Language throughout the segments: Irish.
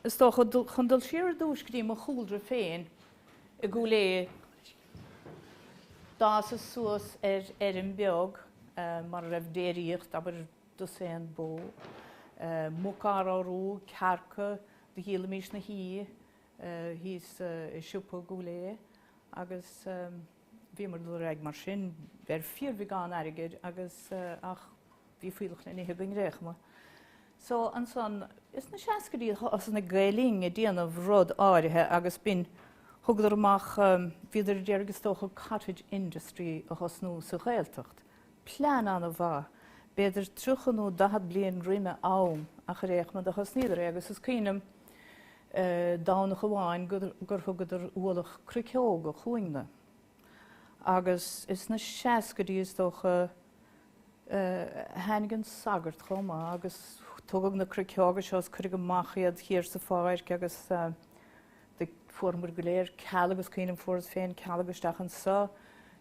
Is dócha, chun dul siar ar dtúis go dtí mo chúlra féin i gCúil Aodha, d'fhásas-sa suas ar fheirm bheag mar a raibh déiríocht, abair dosaen bó, muca ar ndóigh, cearca, do dhíolaimis na huibhe thíos i siopa i gCúil Aodha agus bhíomar ag dul ar aghaidh mar sin, ar fíorbheagán airgid agus ach bhí fuíollach le n-ithe againn ar aon chuma. So ansan, is na seascaidí thosaigh Gael Linn ag déanamh rud áirithe agus b'in, thugadar amach, bhíodar a d'iarraidh is dócha cottage industry a thosnú sa Ghaeltacht. Plean an-mhaith, b'fhéidir 30 nó 40 bliain roimh a am, ach ar aon chuma do thosnaíodar é agus is cuimhin liom Domhnach amháin gur thugadar ualach cruiceoga chugainne agus is sna seascaidí is dócha tháinig an sagart chomh maith agus tugadh na cruiceoga seo is cuireadh amach iad thiar sa pháirc agus Do fuaireamar go léir cealg is cuimhin liom fuaireas féin cealg isteach anso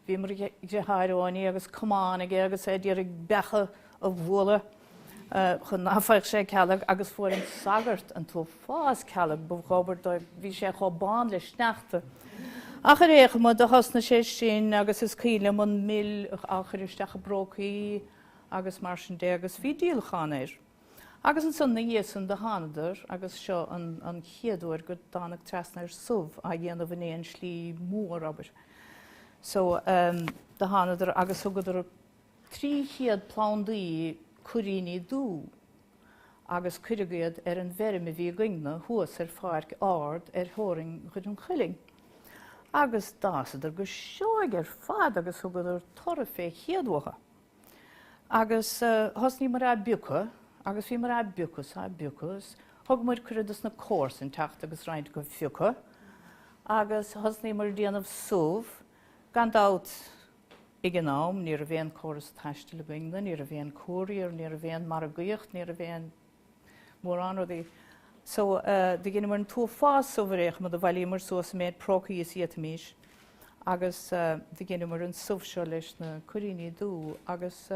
bhí mo dheartháir Eoiní agus camán aige agus é a d'iarraidh beacha a bhualadh chun ná faigheadh sé cealg agus fuair an sagart an t-uafás cealg ba dhóbair dóibh bhí sé chomh bán le sneachta ach ar aon chuma do thosnaigh sé sin agus is cuimhin liom an mil a chur isteach i bprócaí agus mar sin de agus bhí díolachán air. Agus ansan 'na dhiaidh san do thánadar agus seo an chéad uair go dtánag trasna ar subh á dhéanamh in aon slí mór abair. So do thánadar agus thugadar trí chéad plandaí cuiríní dubha agus cuireadh iad ar an bhfeirm a bhí againne thuas ar pháirc ard ar theorainn Dhoire an Chuilinn. Agus d'fhásadar go seoigh ar fad agus thugadar toradh fé chéad uathu. Agus thosnaíomar á bpiocadh agus bhíomar á bpiocadh 's á bpiocadh 's thugamar cuireadh dos na comharsain teacht agus roinnt acu a phiocadh agus thosnaíomar a' déanamh subh, gan dabht ag an am ní raibh aon córas taistil againne, ní raibh aon courier, ní raibh aon margaíocht, ní raibh aon. mórán rudaí. So, do dheineamar an t-uafás subh ar aon chuma, do bhailíomar suas an méid prócaí is a d'fhéadaimis agus do dheineamar an subh seo leis na cuiríní dubha agus,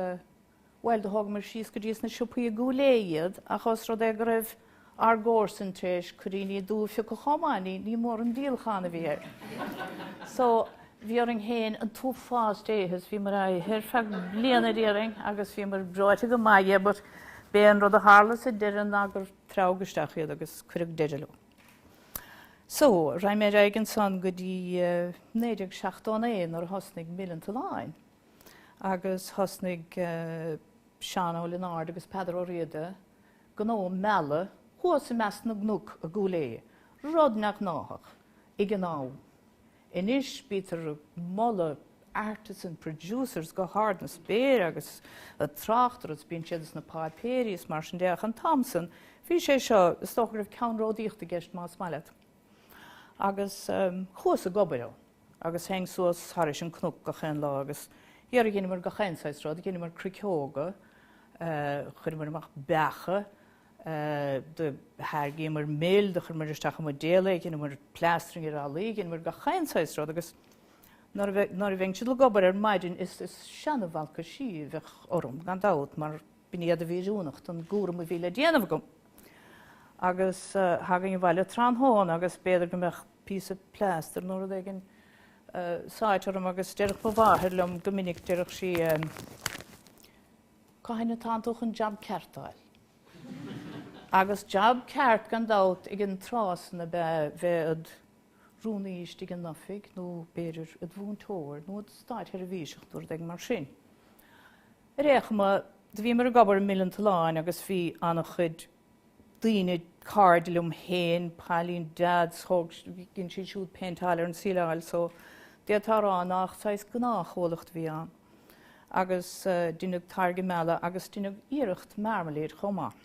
bhuel, do thógamar síos go dtí sna siopaí i gCúil Aodha iad ach os rud é go raibh ár gcomharsain tar éis cuiríní dubha a phiocadh chomh maith, ní, ní mór an díolachán a bhí air. So. Bhí orainn féin an t-uafás de a ithe is bhíomar á ithe ar feadh bliana déarfainn agus bhíomar breoite go maith dhe but b'é an rud a tharla sa deireadh ná gur treabhadh isteach iad agus cuireadh deireadh leo. So, raghaidh mé ar aghaidh ansan go dtí 1979 nuair a thosnaigh Mil an tSuláin agus thosnaigh Seán Ó Lionáird agus Peadar Ó Riada gnó meala thuas i measc na gcnoc i gCúil Aodha, rud neamhghnáthach ag an am. Anois bítear ag moladh artisan producers go hard na spéire agus ag trácht orthu agus bíonn siad sna páipéirí is mar sin de ach an t-am san bhí sé seo, is dócha go raibh ceannródaíocht i gceist más maith leat. Agus chuas ag obair ann agus théinn suas thairis an cnoc gach aon lá agus dhera dheineamar gach aon saghas rud, dheineamar cruiceoga, chuireamar amach beacha, do tháirgíomar mil, do chuireamar isteach i mbuidéal é, dheineamar plastering ar fhallaí, dheineamar gach aon saghas rud agus nuair a bheinnse ag dul ag obair ar maidin is seana-bhalcaisí a bheadh orm gan dabht mar b'in iad a bhí oiriúnach don gcúram a bhí le déanamh agam. Agus thagainn abhaile tráthnóna agus b'fhéidir go mbeadh píosa plaster nó rud éigin sáite orm agus déarfadh mo mháthair liom go minic, déarfadh sí, Cathain atánn tú chun jab ceart d'fháil? Agus jab ceart, gan dabht, ag an tráth san ab ea bheith i'd rúnaí istigh in oifig nó, b'fhéidir, i'd mhúinteoir nó i'd státsheirbhíseach nó rud éigin mar sin. Ar aon chuma, do bhíomar ag obair i Mil an tSuláin agus bhí an-chuid daoine, cairde liom féin, Pauline Dodd, thóg dhein sí siúd péinteáil ar an tsíleáil so d'fhéadfá a rá nach saghas gnáthchomhlacht a bhí ann. Agus deineadh táirge meala agus deineadh iarracht marmalade chomh maith.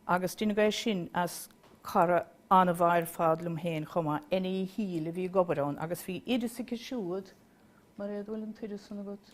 Agus deineadh é sin as cara an-mhaith ar fad liom féin chomh maith, Eithne Uí Shiadhail, a bhí ag obair ann agus bhí oideas aici siúd, Mairéad, an bhfuil an t-oideas san agat?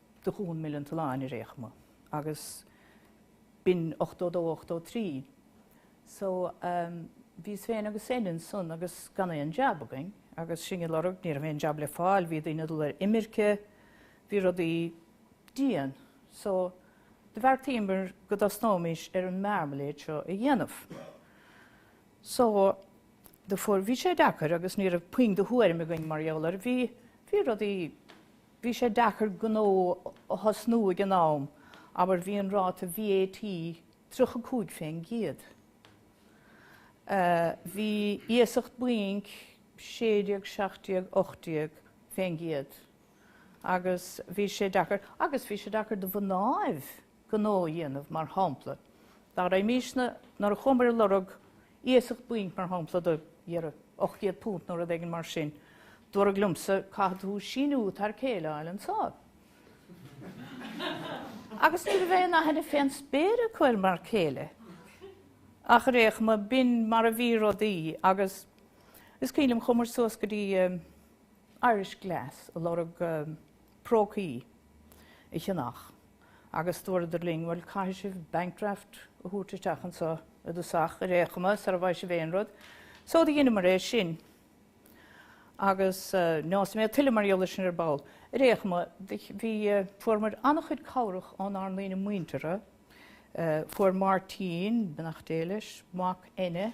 do dhún Mil an tSuláin ar aon chuma agus b'in 82 83 so ehm bhíos féin agus Eithne ansan agus gan aon jab againn agus sinn ag lorg ní raibh aon jab le fáil bhí daoine ag dul ar imirce bhí rudaí dian so do bheartaíomar go dtosnóimis ar an mearmailéad seo a dhéanamh so do fuair bhí sé deacair agus ní raibh puinn de thuairim againn mar gheall air bhí bhí rudaí Bhí sé deacair gnó a thosnú ag an am, abair bhí an ráta VAT tríocha cúig fén gcéad. Bhí iasacht bainc sé déag, seacht déag, ocht déag fén gcéad. Agus bhí sé deacair, agus bhí sé deacair do mhnáibh! gnó a dhéanamh, mar shampla, dar le Mísne, nuair a chuamar ag lorg iasacht bainc, mar shampla, de ocht gcéad punt nó rud éigin mar sin, dúradh liomsa, caithfidh tú síniú t'fhear céile a fháil anseo. Agus ní raibh aon aithne fén spéir acu ar m'fhear céile, ach ar aon chuma, b'in mar a bhí rudaí, agus is cuimhin liom, chuamar suas go dtí Irish Glass, ag lorg, prócaí a cheannach agus dúradar linn, bhuel, caithfidh sibh bank draft a thabhairt isteach anseo i dtosach, ar aon chuma, sara bhfaighidh sibh aon rud. So do dheineamar é sin agus neosfaidh mé tuilleadh mar gheall ar sin ar ball. Ar aon chuma, bhí, fuaireamar an-chuid cabhrach ónár ndaoine muintire, fuair Máirtín, beannacht Dé leis, mac Eithne,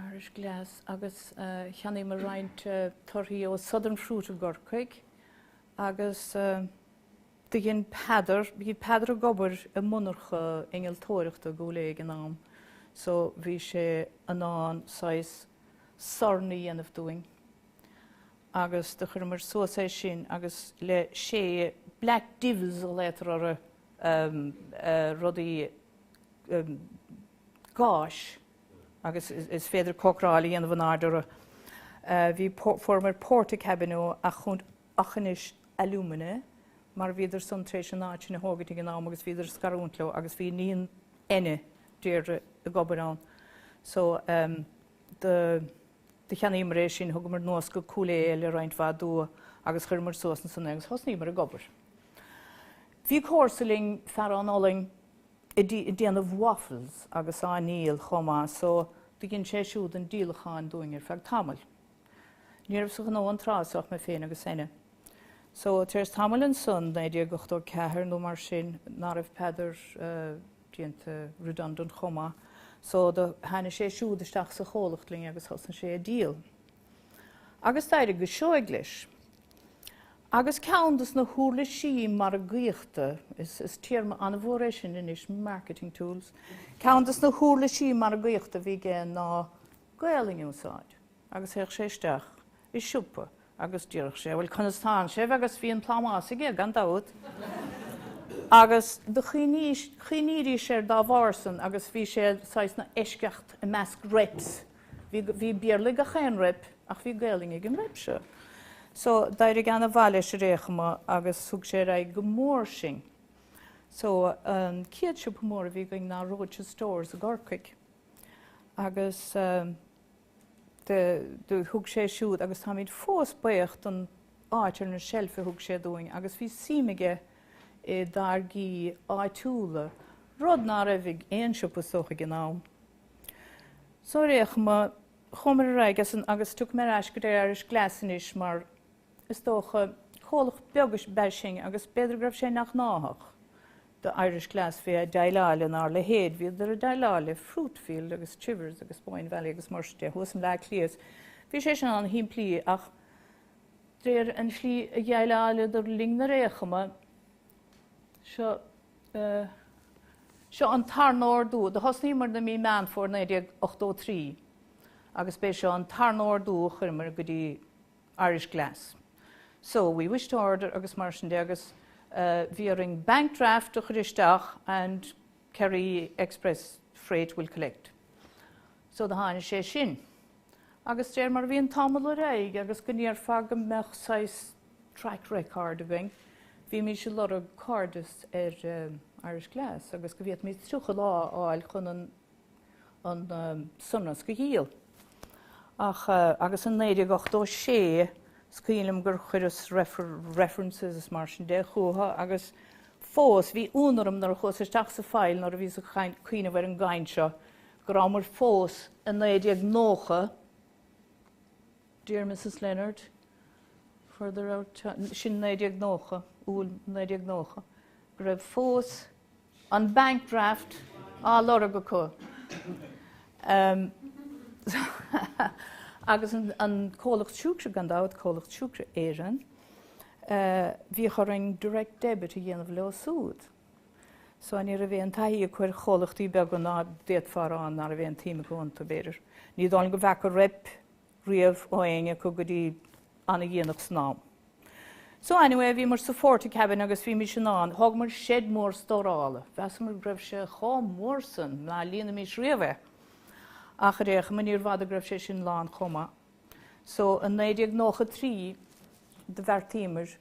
Irish Glass agus cheannaíomar roinnt torthaí ó Southern Fruit i gCorcaigh agus do dhein Peadar, bhí Peadar ag obair i monarcha innealtóireachta i gCúil Aodha ag an am so bhí sé in ann saghas sorn a dhéanamh dúinn agus do chuireamar suas é sin agus le sé Black Divils a ghlaotar orthu. rudaí gáis agus is féidir cócaráil a dhéanamh in airde orthu. Bhí, fuaireamar Portakabin ó Aughinish Alumina, mar bhíodar san tar éis an áit sin a thógaint ag an am agus bhíodar ag scarúint leo agus bhí iníon Eithne, Deirdre, ag obair ann. So do cheannaíomar é sin, thugamar anuas go Cúil Aodha le roinnt mhaith dua agus chuireamar suas ansan é agus thosnaíomar ag obair. Bhí comharsa linn, fear ón Ollainn, ag déanamh waffles agus á ndíol chomh maith so do dhein sé siúd an díolachán dúinn ar feadh tamaill. Ní raibh sa ghnó an tráth so ach mé féin agus Eithne. So, tar éis tamaill ansan, 1984 nó mar sin, ná raibh Peadar déanta redundant chomh maith so do tháinig sé siúd isteach sa chomhlacht linn agus thosnaigh sé ag díol. agus d'éirigh go seoigh leis. Agus ceann dos na huirlisí margaíochta, is téarma an-mhór é sin anois, marketing tools, ceann dos na huirlisí margaíochta a bhí aige ná Gaelainn a úsáid. Agus théadh sé isteach i siopa agus déarfadh sé, bhuel conas tánn sibh agus bhí an plámás aige gan dabht, agus do chuimhnídís air dá bharr san agus bhí sé saghas ina eisceacht i measc reps. Bhí bhí Béarla ag gach aon rep ach bhí Gaelainn ag an rep seo. So, d'éirigh an-mhaith leis ar aon chuma agus thug sé ar aghaidh go mór sinn. So, an chéad siopa mór a bhí againn ná Roche Stores i gCorcaigh. Agus de, de, thug sé siúd, agus táimid fós baoch don áit ar na seilf a thug sé dúinn agus bhí suim aige i dtáirgí áitiúla, rud ná raibh ag aon siopa is dócha ag an am. So ar aon chuma, chuamar ar aghaidh as san agus tiocfaidh mé ar ais go dtí Irish Glass anois mar is dócha, comhlacht beag ab ea sinn agus b'fhéidir go raibh sé neamhghnáthach do Irish Glass bheith ag deighleáil lenár leithéid, bhíodar ag deighleáil le Fruitfield agus Chivers agus Boyne Valley agus mar sin de thuas i mBleá Cliath is bhí sé sin an-shimplí ach de réir an tslí a dheighleáladar linn ar aon chuma, Seo an tarna ordú. Do thosnaíomar i mí Meán Fómhair 1983 agus b'é seo an tarna ordú a chuireamar go dtí Irish Glass. So, we wish to order agus mar sin de agus bhí orainn bank draft a chuir isteach and Kerry Express Freight will collect. So do tháinig sé sin. agus de réir mar a bhí an t-am ag dul ar aghaidh agus go ndéarfá go mbeadh saghas track record againn, bhímís ag lorg cairdeas ar Irish Glass agus go bhféadfaimid 30 lá a fháil chun an sonrasc a dhíol. Ach agus i 1986 is cuimhin liom gur chuireas references is mar sin de chucu agus fós bhí ionadh orm nuair a chuas isteach sa file nuair a bhíos ag cuimhneamh ar an gcaint seo go rabhamar fós i 1990 Dear Mrs Leonard, further out to sin 1990, Iúil 1990, go raibh fós an bank draft á lorg acu agus an comhlacht siúcra, gan dabht, Comhlacht Siúcra Éireann, bhíodh orainn direct debit a dhéanamh leo súd. So ní raibh aon taithí acu ar chomhlachtaí beaga nó d'fhéadfá a rá ná raibh aon tsuim acu iontu, b'fhéidir. Ní dóigh liom go bhfeaca rep riamh ó éinne acu go dtí an-dhéanach san am. So anyway, bhíomar sa phortacabin agus bhímís in ann, thógamar shed mór stórála, mheasamar go raibh sé chomh mór san ná líonfaimís riamh é. Ach ar aon chuma níorbh fhada go raibh sé sin lán chomh maith. So i 1993 do bheartaíomar,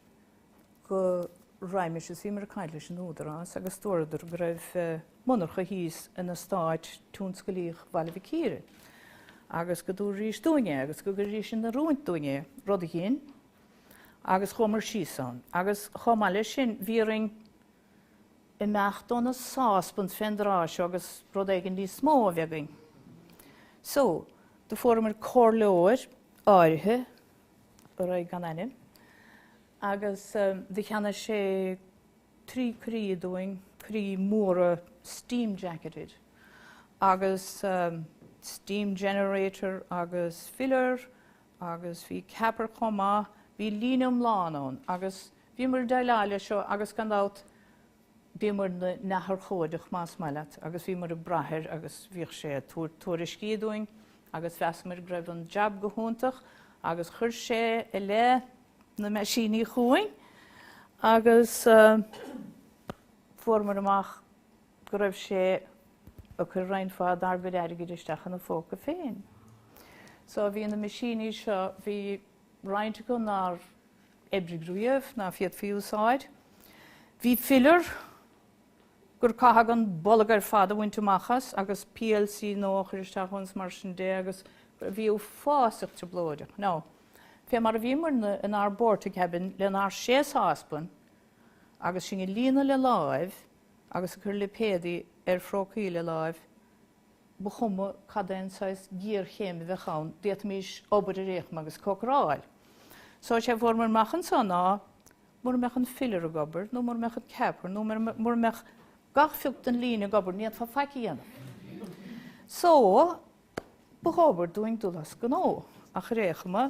go raghaimis is bhíomar ag caint leis an Údarás agus dúradar go raibh monarcha thíos in eastáit tionsclaíoch Bhaile Mhic Íre agus go dtabharfaidís dúinn é agus go gcuirfidís in oiriúint dúinn é, rud a dhein, agus chuamar síos ann. Agus chomh maith leis sin bhí orainn imeacht ó na sáspaint fén dtráth seo agus rud éigin níos mó a bheith againn. So, do fuaireamar comhairleoir áirithe raghaidh gan ainm, agus cheannaigh sé trí coirí dúinn, coirí móra steam-jacketed, agus steam generator agus filler agus bhí capper chomh maith, bhí líne iomlán ann, agus bhíomar ag déileáil leis seo agus gan dabht, Bhíomar neamhurchóideach más maith leat agus bhíomar ag brath air agus bhíodh sé ag tabhairt tuairiscí dúinn agus mheasamar go raibh an jab go hiontach agus chuir sé i leith na meaisíní chugainn agus fuaireamar amach go raibh sé ag cur roinnt mhaith dár gcuid airgid isteach ina phóca féin. So bhí na meaisíní seo, bhí roinnt acu nár oibrigh riamh ná féadfaí a úsáid. Bhí filler gur caitheadh an bolg ar fad a bhaint amach as agus PLC nua a chur isteach ann is mar sin de agus bhí uafásach trioblóideach. Now, fé mar a bhíomar inár bportacabin lenár sé sáspan agus sinn ag líonadh le láimh agus ag cur lipéadaí ar phrócaí le láimh, ba chuma cad é an saghas géarchéim a bheadh ann, d'fhéadfaimis obair ar aon chuma agus cócaráil. So, sé a fuaramar amach anseo ná, mura mbeadh an filler ag obair, nó mura mbeadh an capper, nó mura mbeadh gach phioc den líne ag obair, ní fhéadfá faic a dhéanamh. So, ba dhóbair dúinn dul as gnó. Ach ar aon chuma,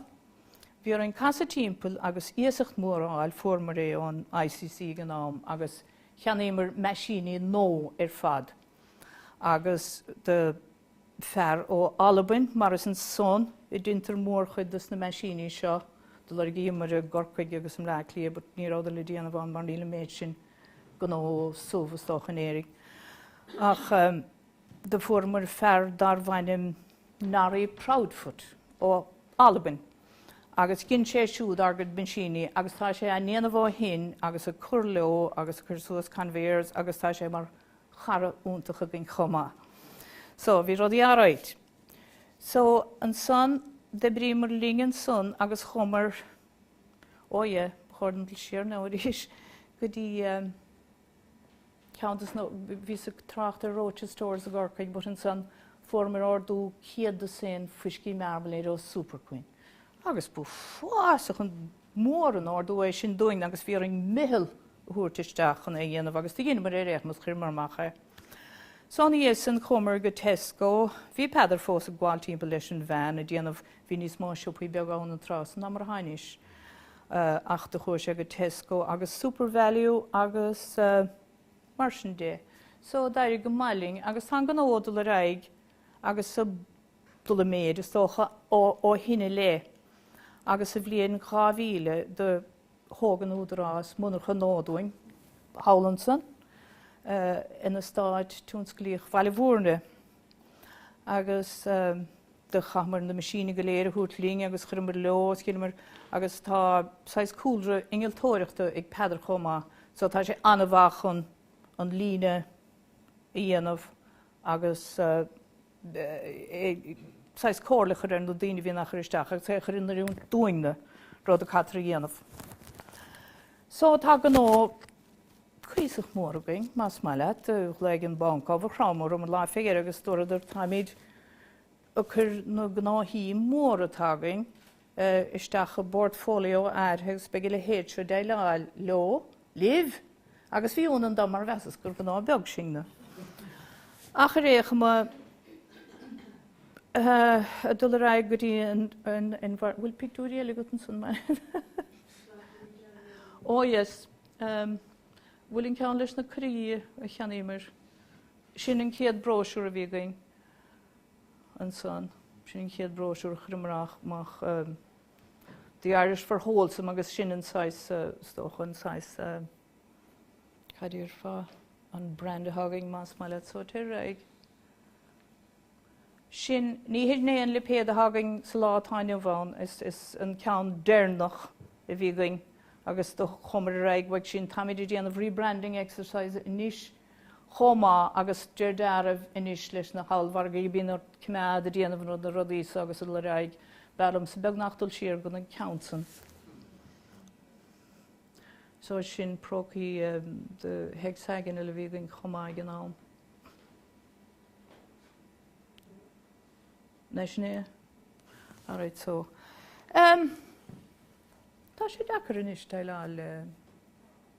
bhí orainn casadh timpeall agus iasacht mhór a fháil, fuaramar é ón ICC ag an am, agus cheannaíomar meaisíní nua ar fad. agus do fear ó Albain, mar is ansan a deintear mórchuid dos na meaisíní seo, do lorgaíomair i gCorcaigh agus i mBleá Cliath, but ní rabhadar le déanamh ann mar níl an méid sin gnó subh, is dócha, in Éirinn. Ach do fuaireamair fear darbh ainm Norrie Proudfoot ó Albain, agus dhein sé siúd ár gcuid meaisíní, agus tá sé á ndéanamh ó shin, agus ag cur leo, agus ag cur suas conveyors, agus tá sé mar chara iontach againn chomh maith. So, bhí rudaí all right. So, ansan, d'oibríomar linn ansan agus chuamar, oh yeah, ba chóir dom dul siar now arís, go dtí ehm ceann dos na, bhíos ag trácht ar Roches Stores i gCorcaigh but ansan fuaireamar ordú céad dosaen fuiscí Marmalade ó Superquinn. Agus b'uafásach an Mór an t-ordú é sin dúinn agus bhí orainn meitheal a thabhairt isteach chun é a dhéanamh agus do dheineamar ar aon chuma is, chuireamar amach é. Só ina dhiaidh sin chuamar go Tesco, bhí Peadar fós ag gabháil timpeall leis an veain a' déanamh, bhí níos mó siopaí beaga ann an tráth san ná mar atá anois ach do chuir sé go Tesco agus Supervalu agus mar sin de. Só d'éirigh go maith linn agus tá an gnó ag dul ar aghaidh agus. dul i méid, is dócha, ó shin i leith, agus sa bhliain 2000 do thóg an Údarás monarcha nua dúinn thall ansan, in eastát tionsclaíoch Bhaile Bhúirne, agus do chaitheamar na meaisíní go léir a thabhairt linn agus chuireamar leo ó shin, mar, agus tá saghas cúlra innealtóireachta ag Peadar chomh maith, so tá sé an-mhaith chun an líne a dhéanamh agus. saghas comhairle a chur ar na daoine a bhíonn á chur isteach agus é a chur in oiriúint dúinne, rud a caitear a dhéanamh. So tá gnó cuíosach mór againn, más maith leat. Do ghlaoigh an banc a bhí ag cnáimhseáil orm an lá fé dheireadh agus dúradar, 'Táimid ag cur na gnóthaí móra atá againn, isteach i bportfóilió áirithe agus beidh a leithéid seo ag déileáil leo libh agus bhí ionadh orm mar mheasas gur gnó beag sinne ach ar aon chuma dul ar aghaidh go dtí an, an bhfuil pictiúirí eile agat ansan Máire, ó yes bhfuil an ceann leis na prócaí a cheannaíomar sin an chéad bróisiúr a bhí againn. ansan. Sin an chéad bhróisiúr a chuireamar amach, The Irish for Wholesome agus sin an saghas, is dócha, an saghas, cad déarfá, an brand atá againn más maith leat. So téir ar aghaidh. Sin, ní hé sin an lipéad atá againn sa lá atá inniu ann, sin an ceann deireanach a bhí againn agus do chuamar ar aghaidh uaidh sin. Táimid ag déanamh rebranding exercise anois. chomh maith agus de dhealramh anois leis na hollmhargaí, bíonn ort coimeád ag déanamh nua na rudaí so agus ar aghaidh, b'fhearr liomsa beagnach dul siar go dtí an ceann san, so sin prócaí hexagonal a bhí againn chomh maith ag an am. Nach sin é? Alright so tá sé deacair anois déileáil le.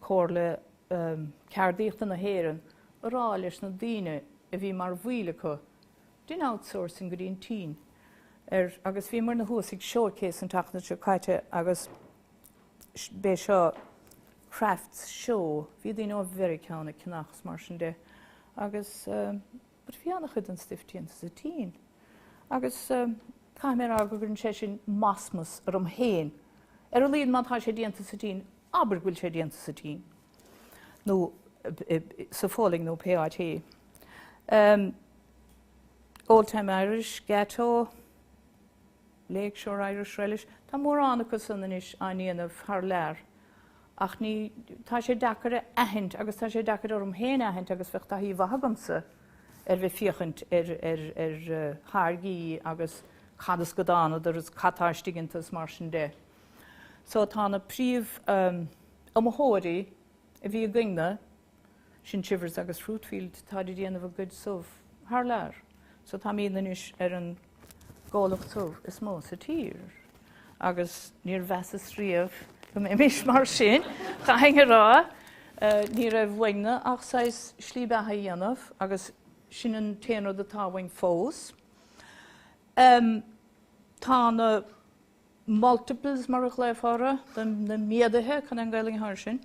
Comhairle Ceardaíochta na hÉireann ag rá leis na daoine a bhí mar bhaill acu dein outsourcing go dtí an tSín agus bhíomairne thuas ag Showcase an tseachtain seo caite agus b'é seo crafts show, bhí daoine ó Mheiriceá ann ag ceannach agus mar sin de agus. but bhí an-chuid den stuif déanta sa tSín agus caithfidh mé a rá go gcuireann sé sin masmas orm féin, ar a laghad má tá sé déanta sa tSín, abair go bhfuil sé déanta sa tSín nó sa Pholainn nó pé áit ehm, Old-time Irish, Gateaux. Lakeshore Irish Relish, tá mórán acu san anois á ndéanamh thar lear ach ní, tá sé deacair a aithint agus tá sé deacair orm féin a aithint agus bheadh taithí mhaith agamsa ar bheith féachaint ar ar tháirgí agus cad as go dtánadar is cad tá istigh iontu is mar sin de. So tá na príomh iomaitheoirí a bhí againne. Sin Chivers agus Fruitfield, táid a' déanamh a gcuid subh thar lear, so táimíd anois ar an gcomhlacht subh is mó sa tír, agus níor mheasas riamh go mbeimís mar sin, chaithfinn a rá. Ní raibh uainn-ne ach saghas slí beatha a dhéanamh, agus sin an t-aon rud atá uainn fós. Tá na. multiples mar a ghlaofá orthu, na méadaithe, chun an Gaelainn a chur ar sin,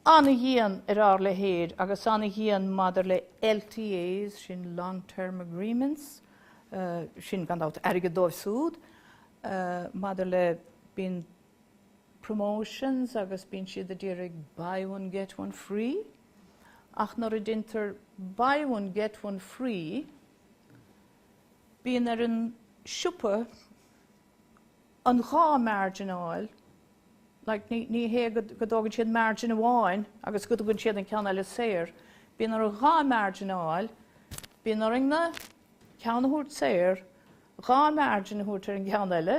an-dhian ar ár leithéid agus an-dhian maidir le LTAs, sin long term agreements, sin gan dabht airgead dóibh súd, maidir le, bíonn promotions agus bíonn siad a d'iarraidh buy one get one free ach nuair a déantar buy one get one free, Bíonn ar an siopa an dhá margin a fháil, like, ní hé go dtógann siad margin amháin agus go dtugann siad an ceann eile saor, bíonn orthu dhá margin a fháil, bíonn orainn-ne ceann a thabhairt saor, dhá margin a thabhairt ar an gceann eile,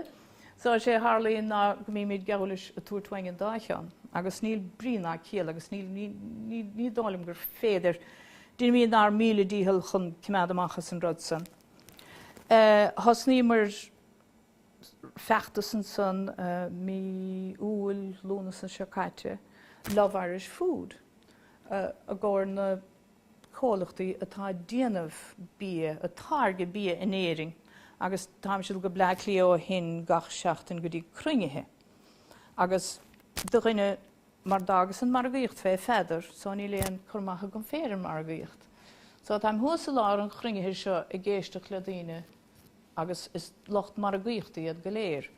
so is é a tharlaíonn ná go mbímid geall leis ag tabhairt uainn an dá cheann, agus níl brí ná ciall agus ní dóigh liom gur féidir Déanaimídne ár míle dícheall chun coimeád amach as an rud san. Thosnaíomar feachtas ansan mí Iúil, Lúnasa an seo caite, Love Irish Food, i gcomhair na comhlachtaí atá ag déanamh bia, ag táirgeadh bia in Éirinn, agus táimse ag dul go Bleá Cliath ó shin gach seachtain go dtí cruinnithe, agus do dhuine mar d'fhágas an margaíocht fé Pheadar so níl aon cur amach agam féin ar an margaíocht so. Táim thuas i lár an chruinnithe seo ag éisteacht le daoine agus is lucht margaíochta iad go léir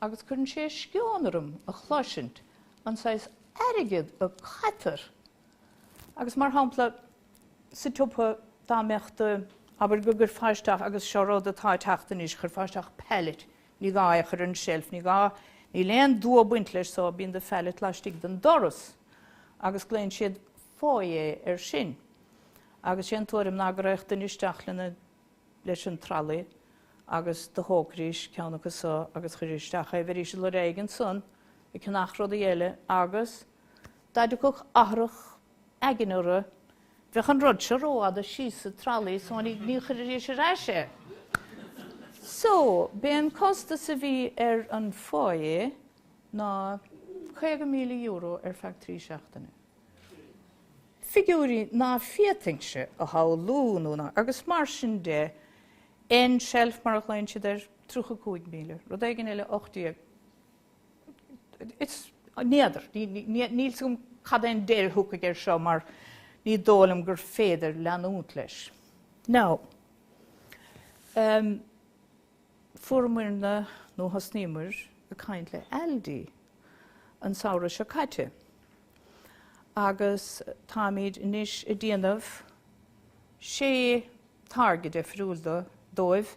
agus cuireann sé sceon orm a chloisint an saghas airgead a caithtear agus mar shampla sa tsiopa dá mbeadh do, abair go gcuirfeá isteach, agus seo rud atá ag teacht anois, chuirfeá isteach pallet Ní gá é a chur ar an tseilf, ní gá, níl aon dua ag baint leis só bíonn do phallet laistigh den doras agus glaonn siad Foyer air sin. Agus sé an tuairim ná go raghadh duine isteach lena, leis an trolley agus do thógfaidís ceann acu so agus chuirfidís isteach é, bheidís ag lorg rud éigin ansan, ag ceannach rudaí eile agus dá dtiocfadh athrach aigne orthu. Bheadh an rud seo rófhada síos sa tralaí so ní chuirfidís ar ais é. So, b'é an costas a bhí ar an foyer ná €50,000 ar feadh trí seachtaine. Figiúirí ná féadfainnse a shamhlú nó ná agus mar sin de, end shelf mar a ghlaonn siad air, €35,000, rud éigin eile 18. N'fheadar. Níl's agam cad é an deireadh a thiocfaidh air seo mar ní dóigh liom gur féidir leanúint leis. Now, em, fuaireamarna, nó thosnaíomar ag caint le Aldi an samhradh seo caite agus táimid anois a' déanamh sé táirge deifriúil do, dóibh,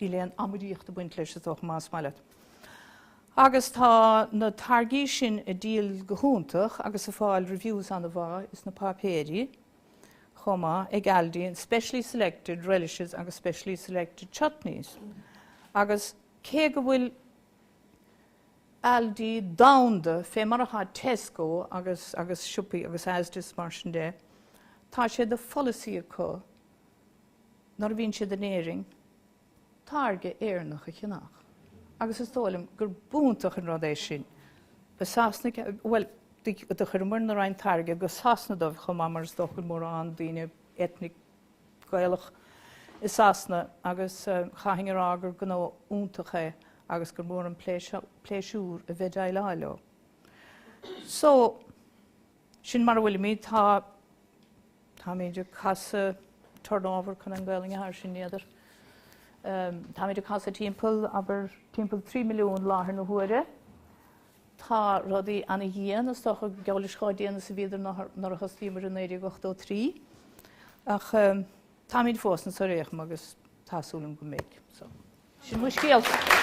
Níl aon amaidíocht ag baint leis, is dócha, más maith leat. Agus tá na táirgí sin ag díol go hiontach agus ag fáil reviews an-mhaith ins na páipéirí chomh maith, ag Aldi, in specially selected relishes agus specially selected chutneys. Agus cé go bhfuil Aldi domhanda fé mar atá Tesco agus agus siopaí agus Asda is mar sin de, tá sé de pholasaí acu, nuair a bhíonn siad in Éirinn, táirge Éireannach a cheannach. Agus is dóigh liom gurb iontach an rud é sin. Ba Sasanaigh a, bhuel, do chuireamarna roinnt táirge go Sasana dóibh chomh maith mar is dócha go bhfuil mórán daoine ethnic Gaelach i Sasana agus chaithfinn a rá gur gnó iontach é agus gur mór an pléisiúr a bheith ag déileáil leo. So, sin mar a bhfuilimid. Tá. Táimid ag casadh turnover chun an Gaolainn atá air sin, n'fheadar. Táimid ag casadh timpeall, abair, timpeall 3 milliún láthair na huaire. Tá rudaí ana-dhian, is dócha, geall leis chomh dian is a bhíodar nuair a thosnaíomar i 1983. Ach táimid fós ins an réichme agus tá súil agam go mbeidh. So, sin mo scéalsa.